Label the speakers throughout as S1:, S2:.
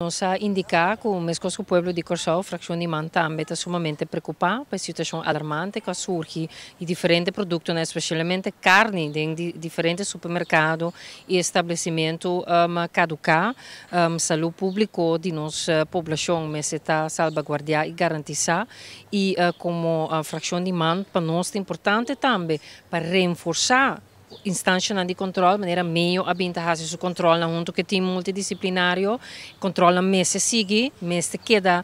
S1: Nos a indiká ku meskos ku pueblo di Kòrsou, frakshon di man tambe ta sumamente preokupá pa e situashon alarmante ku a surgi di diferente produktonan, espeshalmente karni den di diferente supermerkado i establesimentu kaduká. Salú públiko di nos poblashon mester ta salbaguardiá i garantisá i komo frakshon di man pa nos ta importante tambe pa renforsá Instanshanan di control manera Mayo a bin ta haci su controlnan hunto cu e team multidisciplinario, controlnan mester sigui, mester keda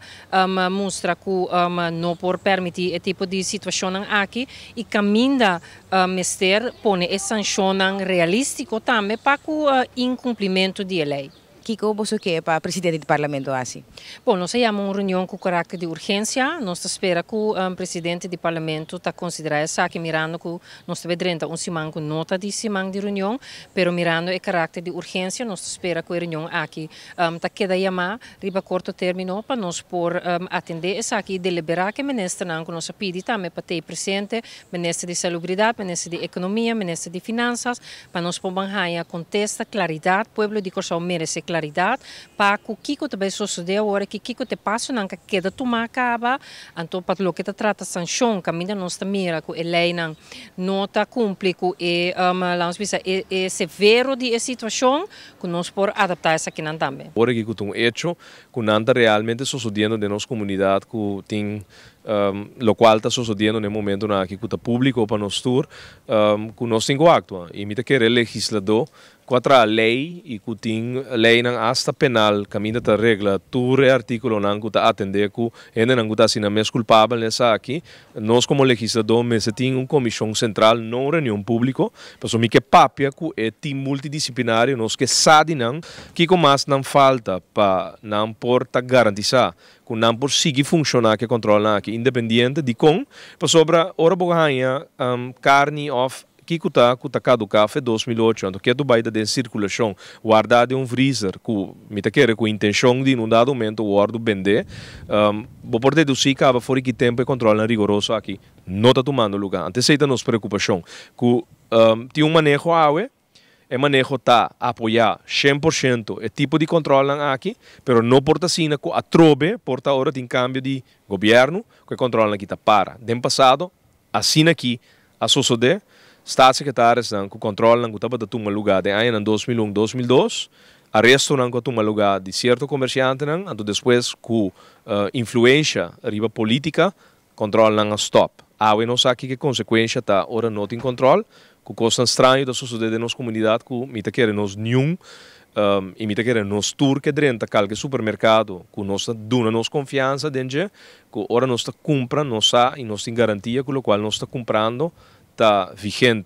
S1: mustra cu no por permiti e tipo di situacionnan aki y caminda mester pone e sancionnan realistico tambe pa cu incumplimentu di e ley. Kiko boso ke
S2: pa presidente di Parlamento hasi? Bon, nos a yama un
S1: reunion ku karakter di urgensia. Nos ta spera ku presidente di Parlamento ta konsiderá esaki mirando ku nos ta bai drenta un siman ku no ta di siman di reunion. Pero mirando e karakter di urgensia nos ta spera ku e reunion aki ta keda yamá riba korto término pa nos por atendé esaki i deliberá ke ministernan ku nos a pidi tambe pa t'ei presente, Minister di Salubridat, Minister di Ekonomia, Minister di Finansas, Pa nos por ban haña contesta claridad, pueblo di Corsou merece claridad pa cu kico ta bay sosode awor aki, kico ta e pasonan ca keda tuma caba, anto pa loke ta trata sancion caminda nos ta mira cu e leynan no ta cumpli cu e lamos bisa e e severo di e situacion cu nos por adapta esakinan tambe. Awor aki cu ta un hecho
S3: cu nan ta realmente sosodiendo den nos comunidad cu tin Locual ta sosodiendo na e momentonan aki cu ta publico pa nos tur, cu nos tin cu actua. Y mi ta kere legisladó cu a traha ley y cu tin leynan hasta penal caminda ta regla tur e articulonan cu ta atende cu hendenan cu ta asina mes culpabel na esaki. Nos como legisladó mester tin un comision central, no un reunion publico, pasobra mi ke papia cu e team multidisciplinario, nos ke sa di nan kico mas nan falta pa nan por ta garantisa ku nan por sigui funshoná ke kòntròlnan aki independiente. Dikon? Pasobra ora bo haña karni òf kiko ta ku ta kaduká fe dos mil ocho, anto ketu bai ta den sirkulashon, wardá den un vriezer ku mi ta kere ku intenshon di nun dado momento wòrdu bendé, bo por dedusí kaba for di ki tempu e kòntròlnan rigoroso aki no ta tumando lugá. Anto esei ta nos preokupashon, ku tin un maneho awe. E maneho ta apoyá shen por shento e tipo di controlnan aki, pero no por ta asina cu atrobe por ta ora tin cambio di Gobierno cu e controlnan aki ta para. Den pasado asina aki a sosode, Staatssecretaresnan cu controlnan cu tabata tuma lugar den añanan dos mil un, dos mil dos, arestonan cu a tuma lugar di cierto comerciantenan, anto despues cu influencia riba politica Controlnan a stop. Awe nos sa kiko consecuencia ta ora no tin control, cu cosnan straño ta sosode den nos comunidad cu mi ta kere nos niun y mi ta kere nos tur ke drenta calke supermercado cu nos ta duna nos confianza den dje, cu ora nos ta cumpra nos sa y nos tin garantia cu locual nos ta cumprando ta vigente.